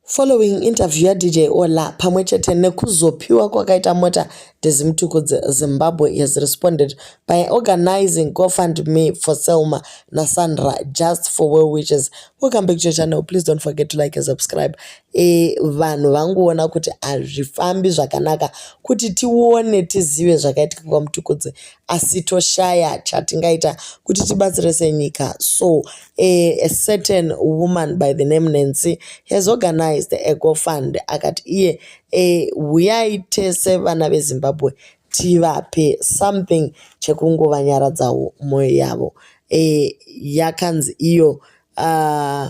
Following interview yaDJ Ola pamwe chete nekuzopiwa kwakaita mota dzeZimtuku Zimbabwe has responded by organizing GoFundMe for Selma naSandra just for well wishes. Welcome back to your channel. Please don't forget to like and subscribe. E, vanhu vanguona kuti hazvifambi zvakanaka kuti tione tizive zvakaitika kwaMtukudzi asi toshaya chatingaita kuti tibatsire senyika. So a, a certain woman by the name Nancy has organized a GoFund akati iye e, huyai tese vana veZimbabwe tivape something chekungovanyaradzao moyo yavo e, yakanzi iyo uh,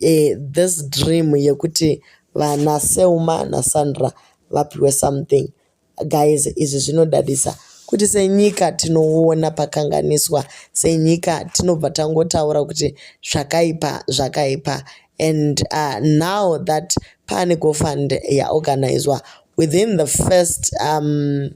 eh, this dream yekuti vana Selma naSandra vapiwe something guys izvi zvinodadisa kuti senyika tinoona pakanganiswa senyika tinobva tangotaura kuti zvakaipa zvakaipa and uh, now that pane gofund yaorganizwa within the first um,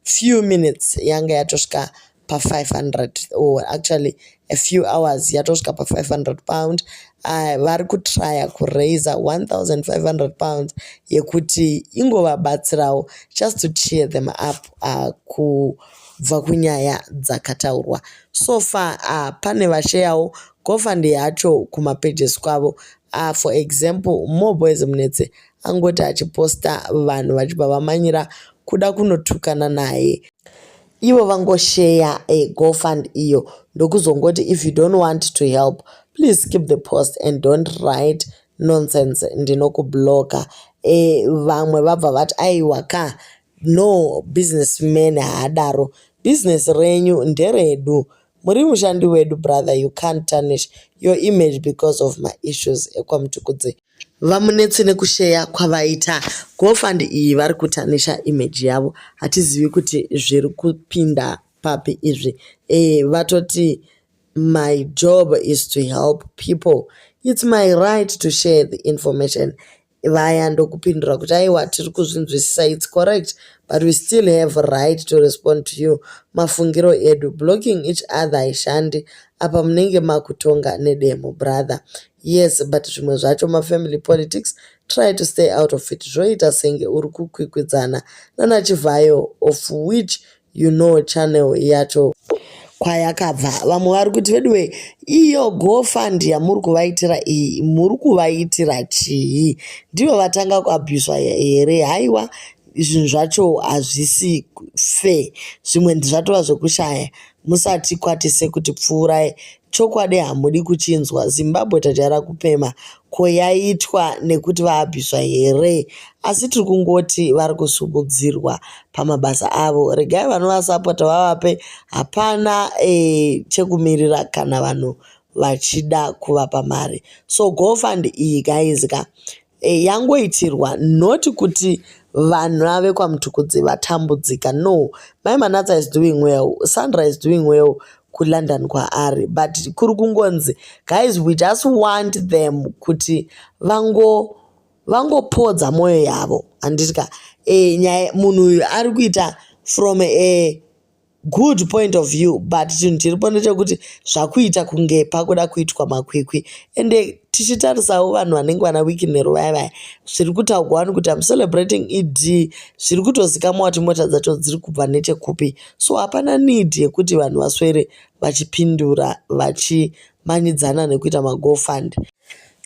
few minutes yanga yatosvika pa500 or actually a few hours yatosvika pa500 pound uh, vari kutrya kuraiser 1500 pounds yekuti ingovabatsirawo just to cheer them up uh, kubva kunyaya dzakataurwa so far uh, pane vasheyawo gofund yacho kumapages kwavo uh, for example more boys munetse angoti achiposta vanhu vachibva vamanyira kuda kunotukana naye ivo vangosheya a eh, gofund iyo ndokuzongoti if you don't want to help please keep the post and don't write nonsense ndinokubloka e eh, vamwe vabva vati aiwa ka no business man haadaro business renyu nderedu Muri mushandi wedu brother you can't tarnish your image because of my issues ekwamutukudze. Vamunetse nekusheya kwavaita gofund iyi vari kutanisha image yavo hatizivi kuti zviri kupinda papi izvi eh, vatoti my job is to help people it's my right to share the information vaya ndokupindura kuti aiwa tiri kuzvinzwisisa its correct but we still have right to respond to you mafungiro edu blocking each other haishandi apa munenge makutonga nedemo brother yes but zvimwe zvacho mafamily politics try to stay out of it zvoita senge uri kukwikwidzana nanachivhayo of which you know channel yacho kwayakabva vamwe vari kuti veduwe iyo gofund yamuri kuvaitira iyi muri kuvaitira chii ndivo vatanga kuabhuswa here haiwa zvinhu zvacho hazvisi fe zvimwe zvatova zvekushaya musati kwatise kuti pfuurai Chokwadi hamudi kuchinzwa, Zimbabwe tajaira kupema, ko yaitwa nekuti vaabviswa here? Asi tiri kungoti vari kusimudzirwa pamabasa avo, regai vanovasapota vavape, hapana eh, chekumirira kana vanhu vachida kuvapa mari. So GoFund iyi guys ka eh, yangoitirwa not kuti vanhu ave kwamutukudzi vatambudzika no mai manatsa is doing well sandra is doing well kulondon kwaari but kuri kungonzi guys we just want them kuti vango vangopodza mwoyo yavo handiti ka e, nyaya munhu uyu ari kuita from a Good point of view but chinhu chiripo ndechekuti zvakuita kunge pakuda kuitwa makwikwi ende tichitarisawo vanhu vanenge vana wiki nero vaya vaya zviri kutaugwa wani kuti am celebrating ed zviri kutozikamwa kuti mota dzacho dziri kubva nechekupi so hapana need yekuti vanhu vaswere vachipindura vachimanyidzana nekuita magofund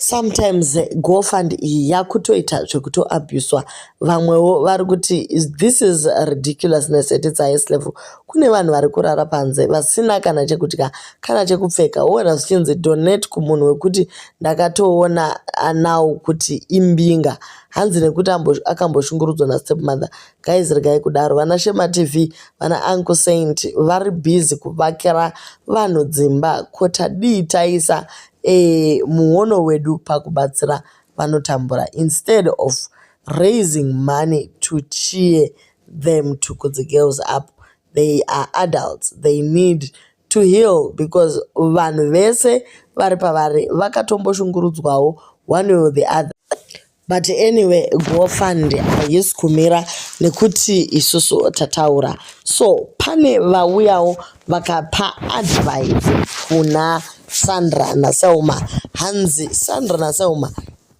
sometimes gofund iyi yakutoita zvekutoabuswa vamwewo vari kuti this is ridiculousness at its highest level kune vanhu vari kurara panze vasina kana chekudya kana chekupfeka woona zvichinzi donate kumunhu wekuti ndakatoona anawo kuti imbinga hanzi nekuti akamboshungurudzwa nastepmother guys regai kudaro vana shema tv vana uncle saint vari busy kuvakira vanhu dzimba ko tadii taisa eh, muono wedu pakubatsira vanotambura instead of raising money to cheer them to put the girls up they are adults they need to heal because vanhu vese vari pavari vakatomboshungurudzwawo one or the other but anyway gofund haisi kumira nekuti isusu tataura so pane vauyawo vakapa advice kuna sandra naselma hanzi sandra naselma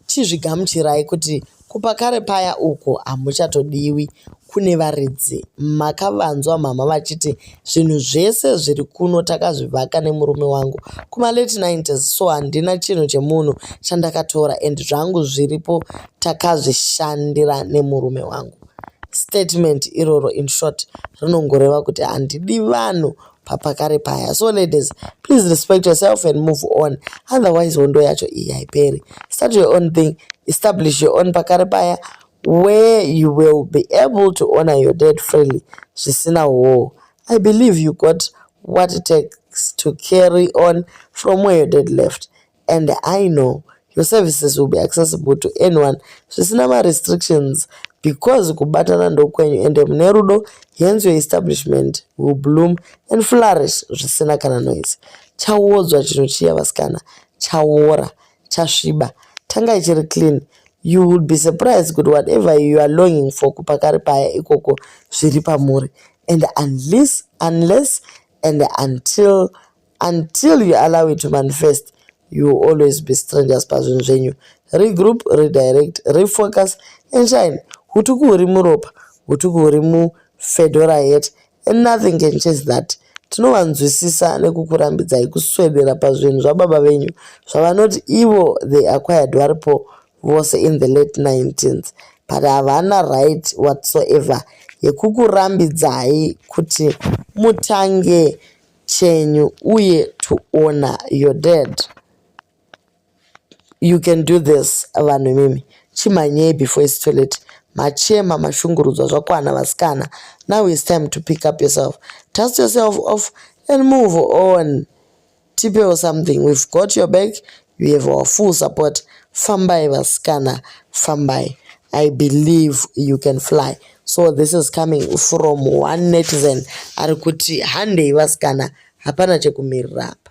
chizvigamuchirai kuti kupa kare paya uko hamuchatodiwi kune varidzi makavanzwa mama vachiti zvinhu zvese zviri kuno takazvivaka nemurume wangu kumalate 90s so handina chinhu chemunhu chandakatora and zvangu zviripo takazvishandira nemurume wangu statement iroro in short rinongoreva kuti handidi vanhu papakare paya so ladies please respect yourself and move on otherwise hondo yacho iyi haiperi start your own thing establish your own pakare paya where you will be able to honor your dead freely zvisina hoo i believe you got what it takes to carry on from where your dead left and i know your services will be accessible to anyone zvisina marestrictions because kubatana ndokwenyu ende mune rudo hence your establishment will bloom and flourish zvisina kana noise chawodzwa chinhu chiya vasikana chawora chasviba tanga ichiri clean you will be surprised kuti whatever you are longing for kupakari paya ikoko zviri pamuri and unless unless and until until you allow it to manifest you will always be strangers pazvinhu zvenyu regroup redirect refocus and shine hutuku huri muropa hutuku huri mufedora yet and nothing can change that tinovanzwisisa nekukurambidzai kuswedera pazvinhu zvababa venyu zvavanoti ivo they acquired varipo vose in the late 19th but havana right whatsoever yekukurambidzai kuti mutange chenyu uye to honor your dad you can do this vanhu imimi chimhanyei before is too late machema mashungurudzwa zvakwana vasikana now is time to pick up yourself dust yourself off and move on tipewo something we've got your back you have our full support fambai vasikana fambai i believe you can fly so this is coming from one netizen ari kuti handei vasikana hapana chekumirira apa.